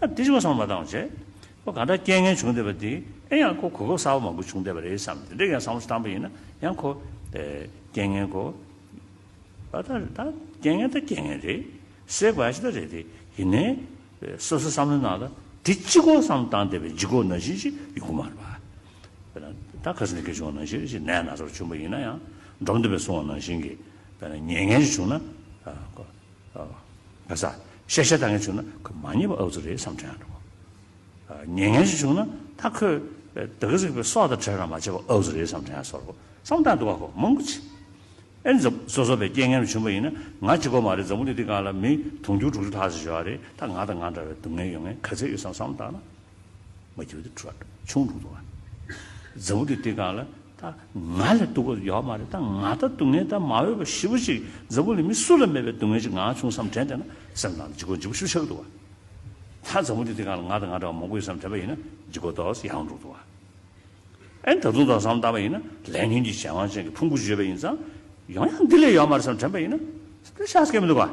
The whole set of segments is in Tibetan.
ཨ་ཏི་ཅི་གོ་སོང་མ་དང་བྱས། ཁོ་ག་འདྲ་རྐྱེན་ངན་བྱུང་བསྡད་པ་དེ་ཨེ་ཡང་ཁོ་གོ་སྐབས་གསར་བ་མང་པོ་བྱུང་བསྡད་པ་རེད་བསམ་དེ་འདྲ་ཡང་བསམ་བློ་བཏང་པ་ཡིན་ན་ཡང་ཁོ། རྐྱེན་ངན་གོ། ཨ་ད་ད་རྐྱེན་ངན་ད་རྐྱེན་ངན་རེད། སྲེག་པ་ཨ་ཅི་ད་རེད་དེ་ཡིན་ནའི། སོ་སོ་བསམ་བློ་གནང་ད་དེ་ཅི་གོ་བསམ་བློ་བཏང་བསྡད་པའི་འཇིགས་སྐོག་ནང་བཞིན་ཅིག་ཡོང་གི་མ་རེད་པ། ད་ག་སེ་ནས་ཁེ་བྱུང་བ་ནང་བཞིན་རེད་ཅིག་ནད་ན་ཚོར་བྱུང་བ་ཡིན་ན་ཡང་འགྲོ་མི་འདོད་པའི་སོང་བ་ནང་བཞིན་གྱི། ཉེས་ངན་ཅིག་བྱུང་ན། ག་ས། ཤ་ཤ་ད་ངས་བྱུང་ན་ཁོས་མ་ཉེས་པ་ཨག་ཚོ་རེད་བསམ་དྲན་ཡང་འགྲོ། ཉན་ཉན་ཞིག་བྱུང་ན་ད་ཁོས་དག་གཟིགས་པའི་སྲོག་དང་བྲལ་རང་མ་བྱས་པ་ཨག་ཚོ་རེད་བསམ་དྲན་ཡང་སོར་རོ་བསམ་དང་འདུག་ག་ཁོ་མང་པོ་བྱས། ཨེ་འཛམ་བཟོ་བཟོ་པའི་རྐྱེན་ངན་ལས་བྱུང་པ་ཡིན་ན་ང་གཅིག་གོ་མ་རེད་འཛམ་བུ་འདི་འདི་གང་ལ་མི་དུང་ཕྱུར་དྲུག་ཅུ་ལྷག་ཟིག་བཞོ་བ་རེད་ད་ང་དང་ང་འདྲ་བའི་སྡུག་བསྔལ་ཡོང་ངེས་ག་ཚད་ཡོད་བསམ་བསམ་དང་ན། མ་གྱུར་ཏེ་ཁྲོ་ཆུང་ལུང་དུ་བ། རྫི་བོ་དེ་དེ་ག་ལ་ད་ང་ལ་སྡུག་པ་ཡོད་མ་རེད་ད་ང་ད་སྡུག་བསྔལ་ད་མ་འོས་པ་ཞི་བོ་ཅིག་རྫི་བོ་ལས་མི་སུ་ལ་མེད་པའི་སྡུག་བསྔལ་ཅིག་ང་བྱུང་བསམ་དྲན་དེ་ན་སེམས་ནང་དུ་འཇིགས་སྐོར་འཇིགས་པ་ཤུགས་ཆགས་ཀྱི་འདུག་བ། ད་རྫི་བོ་དེ་དེ་ག་ལ་ང་ད་ང་འདྲ་བ་མང་པོ་ཡོད་བསམ་དྲན་པ་ཡིན་ན་འཇིགས་སྐོར་དོགས་ཡག་འགྲོ་འདུག་བ། ཨེ་ད་དུང་དོགས་བསམ་བཏང་བ་ཡིན་ན་ལས་ངན་གྱི་གཞན་དབང་ཅན་གྱི་ཕུང་པོ་བརྗོད་པ་ཡིན་ཙང་ཡང་ཡང་འདི་ལས་ཡོད་མ་རེད་བསམ་དྲན་པ་ཡིན་ན་ཤ་སྐད་མི་འདུག་བ།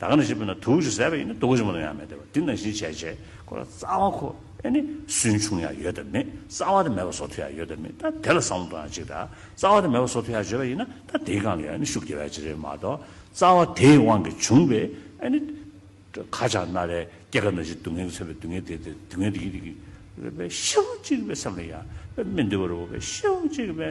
ད་ག་ནས་ཞེས་པས་ན་དུག་གཞི་ཟད་པ་ཡིན་ན་དུག་གཞི་མ་ལ་ཡང་མེད་དེ་བ་དེ་ནང་བཞིན་བྱས་བྱས་ཁོ་ལ་རྩ་བ་ཁོ་ཨེ་ནི་སུན་ཕྱུང་ཡང་ཡོད་དམ་མེད་རྩ་བ་དེ་མེད་པ་སོགས་ཐུག་ཡང་ཡོད་དམ་མེད་ད་དེ་ལ་བསམ་བློ་གཏོང་ཡང་ཅིག་ད་རྩ་བ་དེ་མེད་པ་སོགས་ཐུག་ཡང་བརྗོད་པ་ཡིན་ན་ད་དེའི་གང་ལ་ཡང་ཨེ་ནི་ཤུགས་རྒྱས་པའི་ཕྱིར་རེད་མ་གཏོགས་རྩ་བ་དེའི་དབང་གིས་བྱུང་བའི་ཨེ་ནི་ཁ་ཆག་རྣ་རལ་སྐྱེ་རྒ་ན་འཆིའི་སྡུག་བསྔལ་གྱི་མཚོན་པའི་སྡུག་བསྔལ་དེ་དེ་སྡུག་བསྔལ་དེ་ཡིན་དེ་རེད་པས་ཤེས་དབང་གཅིག་པའི་སེམས་ལ་ཡང་པས་མི་འདུས་པ་རེད་བ་པས་ཤེས་དབང་གཅིག་པའི།